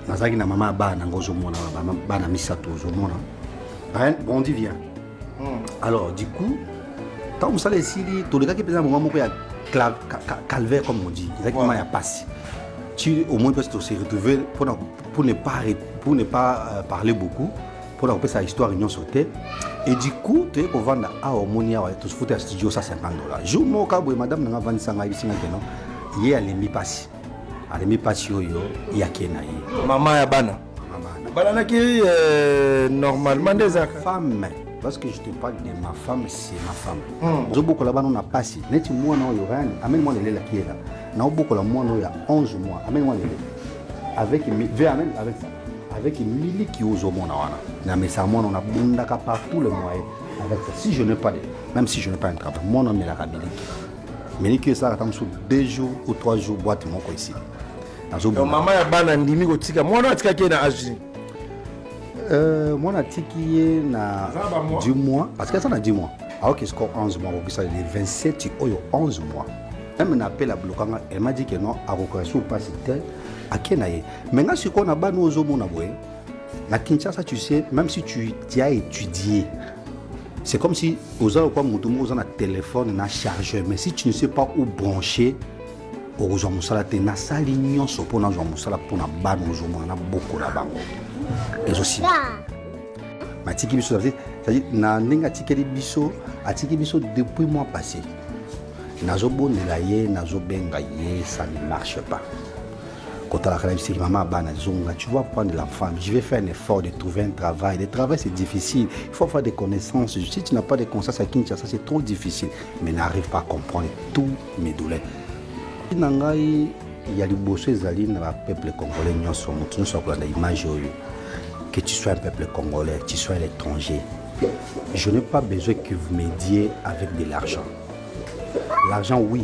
nazalaki na mama ya bana yango ozomona bana misato ozomona hein? bon dit bien hmm. alors du coup ntango mosala esili tolekaki mpenza moma moko ya calvaire comme on dit ezalaki moma ya mpasi ti au moins mpasi tose retrouve pour ne pas, pour ne pas euh, parler beaucoup pour la sa histoire union sauté et du coup tu es au vendre à harmonie à tout ce studio ça 50 dollars jour mon cabo et madame n'a pas 25 à 8 il y a les mi passes alemi mpasi oyo yake na ye mama ya bana balanaki euh, normalement nde ezalaka femme parce que je te parle de ma femme c'est ma femme hmm. ozobokola bana na mpasi neti mwana oyo rani ameni mwana elelaki yela naobokola mwana oyo ya 11 mois ameni mwana elele avec ve amen avec ça avec miliki ozomona wana na mesa mwana nabundaka par tout le moyen avec ça si je n'ai pas de même si je n'ai pas un travail mwana amelaka miliki Miniki esalaka ata mosusu deux jours ou trois jours boite moko esili mama ya bana andimi kotika mwana atikaki ye na age nini euh, mwana atiki ye na du mois parce que aza na du mois aoki siko 11 mois akokisa le 27 oyo 11 mois meme na appel ablokanga elle m'a dit que non akokasi mpasi te ake na ye me nga sikoyo na bana ozomona boye Na Kinshasa, tu sais, même si tu, tu as étudié, c'est comme si oza lokola moto moko oza na telefone na chargeur mais si tu ne sais pas où brancher okozwa mosala te nasali nyonso mpo nazwa mosala mpo na bana ozomona na boko na bango ezosila matiki biso na ndenge atikeli biso atiki biso depuis mois passé nazobondela ye nazobenga ye ça ne marche pas kotalaka na biso te mama bana zonga tu vas prendre la femme je vais faire un effort de trouver un travail le travail c'est difficile il faut avoir des connaissances si tu n'as pas de connaissances à Kinshasa c'est trop difficile mais n'arrive pas à comprendre tous mes douleurs na ngai ya liboso ezali na bapeuple congolais nyonso moto nyonso akolanda image oyo que tu sois un peuple congolais tu sois un étranger je n'ai pas besoin que vous m'aidiez avec de l'argent l'argent oui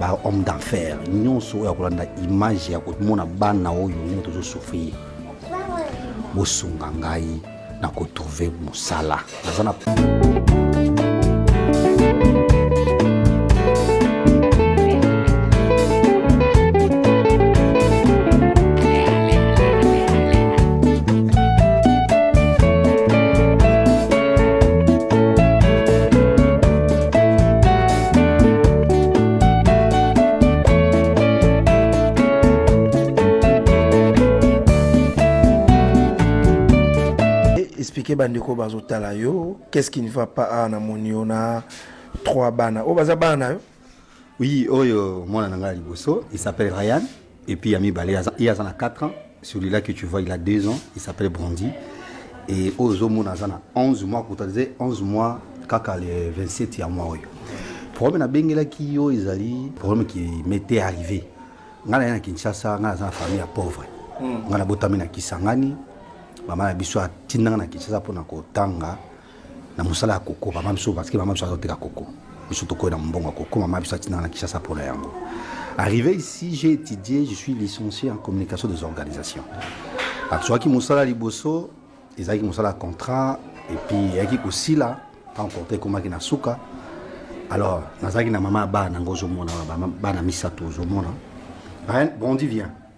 ba homme d'enfer nyonso oyo akolanda image ya komona bana oyo ndenge tozosouffrir bosunga ngai na kotrouve mosala naza na expliquer bandeko bazotala yo qu'est-ce qui ne va pas awa na moni yo na trois bana oyo baza bana na yo oui oyo mwana na ngai ya liboso il s'appelle ryan Et puis ya mibale ye aza na 4 ans celui-là que tu vois il a 2 ans il s'appelle Brandy et oyo ozomona aza na 11 mois kuta ze 11 mois kaka le 27 ya mois oyo problème nabengelaki yo ezali problème qui m'était arrivé ngai naye na kinshasa ngai naza na famille ya pauvre hmm. ngai nabotami na kisangani mama na biso atindanga na kinshasa mpo na kotanga na mosala ya koko mama biso parce que mama biso azoteka koko biso tokoyi na mbongo ya koko mama biso atinaka na kishasa mpo na yango arrivé ici j'ai étudié je suis licencié en communication des organisations azwaki mosala liboso ezalaki mosala ya contrat epuis eyaki kosila ntango contrat ekomaki na suka alors nazalaki na mama ya bana yango ozomona bana misato ozomona bondi vient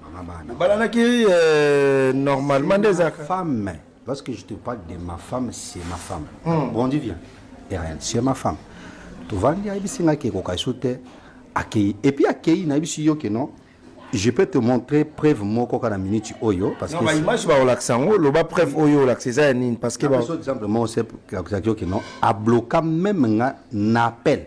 mama bana obalanaki euh, normalement nde ezalaka femme lorsque je te parle de ma femme c'est ma femme hmm. bon dit bien rien c'est ma femme tovandi ayebisi ngai kekoka esu te akei epuis akei nayebisi yo ke non je peux te montrer preuve moko kaka na minute oyo parce que image bakolakisa yango loba preuve oyo olakisa eza ya nini parce que exemple moko se akisaki yo ke non abloka meme nga na appel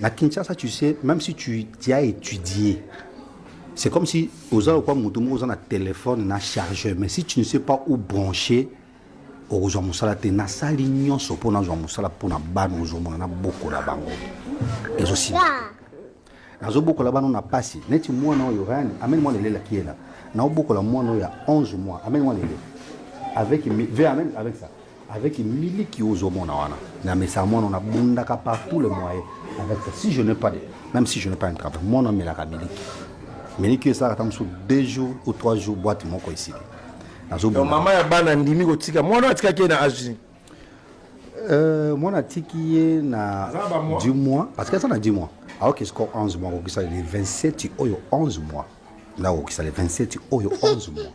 Na Kinshasa, tu sais, même si tu, tu as étudié, c'est comme si oza lokwa moto moko oza na téléphone na chargeur, mais si tu ne sais pas où brancher, okozwa mosala te nasali nyonso mpo nazwa mosala mpo na bana ozomona nabokola bango ezosila nazobokola bana na pasi neti mwana oyo rani amene mwana elelaki yela naobokola mwana oyo ya 11 mois amene mwana elele avec, avec ça avec miliki ozo mona wana na mesa mwana na bundaka par tous les moyens avec ça si je n'ai pas de même si je n'ai pas un travail mwana melaka miliki miliki esalaka ta mosusu deux jours ou trois jours boîte moko esili nazobonga mama ya bana ndimi kotika mwana atikaki ye na age Euh, mwana atiki ye na Aza ba mois. 10 mois parce que aza na 10 mois aoki score 11 mois akokisa le 27 oyo 11 mois nda akokisa le 27 oyo 11 mois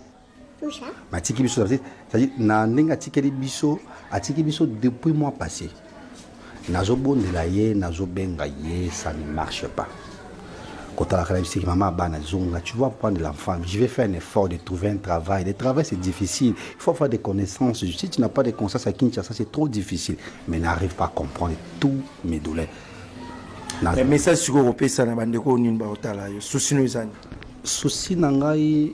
matiki biso cest na ndenge atikeli biso atiki biso depuis mois passé nazobondela ye nazobenga ye ça ne marche pas kotalaka na bisiki mama bana zonga tu vas prendre l'enfant je vais faire un effort de trouver un travail le travail c'est difficile il faut avoir des connaissances si tu n'as pas de connaissances à Kinshasa c'est trop difficile mais n'arrive pas à comprendre tous mes douleurs mais message sikoyo kopesa na bandeko oyo nini baotala yo susi no ezani susi na ngai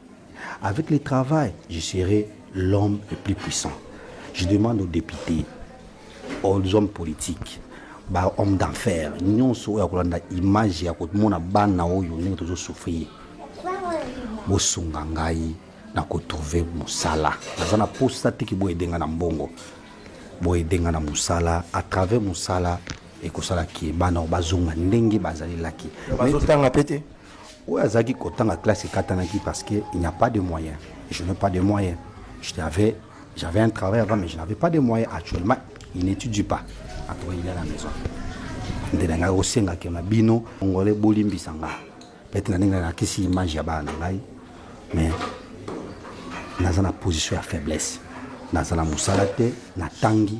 Avec le travail, je serai l'homme le plus puissant. Je demande aux députés, aux hommes politiques, ba homme d'enfer nyonso oyo akolanda image ya komona bana oyo ndenge tozosouffrir bosunga ngai na kotrouve mosala naza na posa tiki boyede ngai na mbongo boyede ngai na mosala à travers mosala ekosala ke bana oyo bazonga ndenge bazalelaki bazotanga mpe te oyo azalaki kotanga classe ekatanaki parce que il n'y a pas de moyen je n'ai pas de moyen j'avais j'avais un travail avant mais je n'avais pas de moyen actuellement il n'étudie pas atoka il est à la maison nde na ngai osengaki na bino ngole bolimbisa ngai pete na ndenge nalakisi image ya bana na ngai mais naza na position ya faiblesse naza na mosala te natangi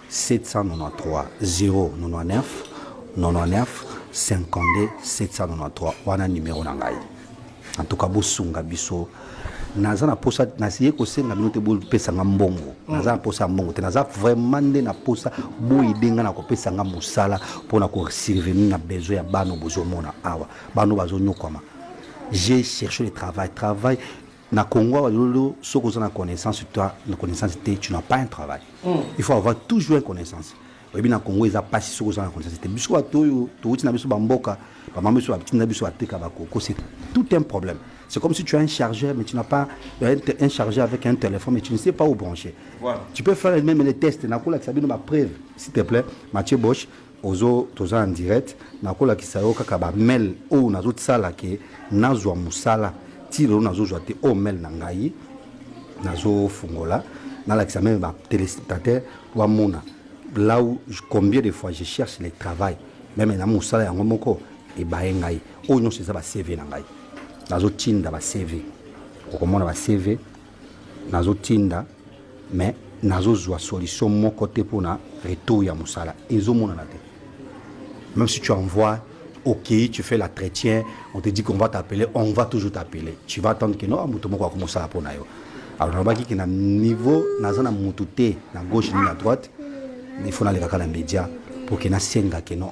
793 wana numero na ngai en tout cas bosunga biso naza na posa nasiye kosenga bino te bopesa nga mbongo mm. naza na posa ya mbongo te naza vraiment nde na posa boyede nga na kopesa nga mosala mpo na kosurvenir na besoin ya bana bozomona awa bana bazonyokwama j'ai cherché le travail travail Na Congo awa lelo soki oza na connaissance toi na connaissance te tu n'as pas un travail. Mm. Il faut avoir toujours une connaissance. Oyebi na Congo eza pasi soki oza na connaissance te. Biso bato oyo towuti na biso ba mboka, ba mama biso batinda biso ateka ba koko, c'est tout un problème. C'est comme si tu as un chargeur mais tu n'as pas euh, un, un chargeur avec un téléphone mais tu ne sais pas où brancher. Voilà. Tu peux faire même les tests na kola sabino ba preuve s'il te plaît Mathieu Bosch ozo toza en direct nakolakisa yo kaka ba mail oyo nazotisala ke nazwa mosala ti lelo nazozwa te oyo mail na ngai nazofungola nalakisa meme ba téléspectateur wamona là où combien de fois je cherche le travail meme na mosala yango moko ebaye ngai oyo nyonso eza ba cv na ngai nazotinda ba cv okomona ba cv nazotinda mais nazozwa solution moko te mpo na retour ya mosala ezomonana te même si tu envoies ok tu fais la chrétien on te dit qu'on va t'appeler on va toujours t'appeler tu vas attendre que non moto moko akomosala mpo na yo alors nalobaki ke na niveau naza na motu te na gauche ni na droite il faut nalekaka na média mpo ke nasenga ke non